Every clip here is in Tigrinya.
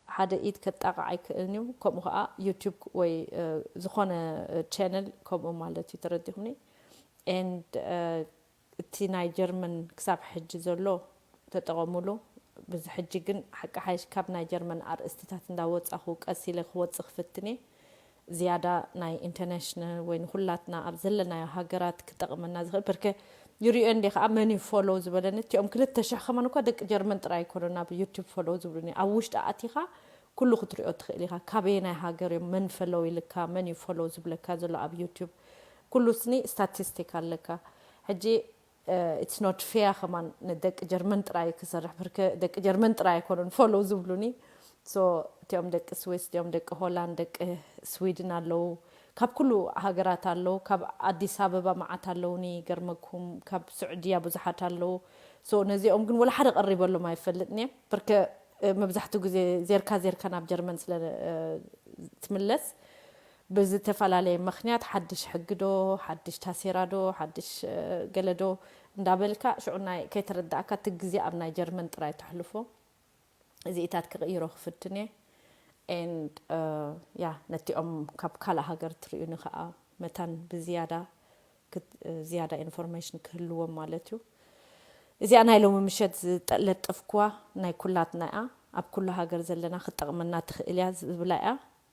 ብሓደ ኢድ ከጣቕዕ ኣይክእልን'ዩ ከምኡ ከኣ ዩቱብ ወይ ዝኾነ ቸነል ከምኡ ማለት'ዩ ተረዲኹምኒ and እቲ ናይ ጀርመን ክሳብ ሕጂ ዘሎ ተጠቐሙሉ ብዚ ሕጂ ግን ሓቂ ሓይሽ ካብ ናይ ጀርመን ኣርእስትታት እንዳወጻኹ ቀስ ኢለ ክወጽእ ክፍትን'የ ዝያዳ ናይ ኢንተርናሽነ ወይ ንኹላትና ኣብ ዘለናዮ ሃገራት ክጠቕመና ዝኽእል ፐርከ ይሪኦ እንዴ ከኣ መን እዩ ፎሎው ዝበለኒ እቲኦም ክልተ ሽሕ ከማን እኳ ደቂ ጀርመን ጥራይ ኣይኮኑን ኣብ ዩቱብ ፎሎው ዝብሉኒ ኣብ ውሽጢ ኣእቲኻ ኩሉ ክትሪኦ ትኽእል ኢኻ ካበየናይ ሃገር እዮም መን ፈሎው ኢልካ መን እዩ ፎሎው ዝብለካ ዘሎ ኣብ ዩቱብ ኩሉ ስኒ ስታቲስቲክ ኣለካ ሕጂ ኢትስ ኖት ፌያ ከማን ንደቂ ጀርመን ጥራይ ክሰርሕ ብርከ ደቂ ጀርመን ጥራይ ኣይኮኑን ፎሎው ዝብሉኒ ሶ እቲኦም ደቂ ስዊስ እቲኦም ደቂ ሆላንድ ደቂ ስዊድን ኣለው ካብ ኩሉ ሃገራት ኣለው ካብ ኣዲስ ኣበባ መዓት ኣለውኒ ይገርመኩም ካብ ስዑድያ ብዙሓት ኣለው ሶ ነዚኦም ግን ወላ ሓደ ቀሪበሎም ኣይፈልጥን እየ ብርከ መብዛሕትኡ ግዜ ዜርካ ዜርካ ናብ ጀርመን ስለ ትምለስ ብዝተፈላለየ ምኽንያት ሓድሽ ሕጊ ዶ ሓድሽ ታሴራ ዶ ሓድሽ ገለ ዶ እንዳበልካ ሽዑ ናይ ከይተረዳኣካ እቲ ግዜ ኣብ ናይ ጀርመን ጥራይ ተሕልፎ እዚኢታት ክቕይሮ ክፍትን እየ and yeah ነቲኦም ካብ ካልእ ሃገር ትሪኡኒ ከኣ መታን ብዝያዳ ዝያዳ ኢንፎርሜሽን ክህልዎም ማለት እዩ እዚኣ ናይ ሎሚ ምሸት ዝጠለጠፍኩዋ ናይ ኩላትና እያ ኣብ ኩሉ ሃገር ዘለና ክትጠቕመና ትኽእል እያ ዝብላ እያ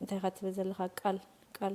እንታይ ኢኻ ትብል ዘለኻ ቃል ቃል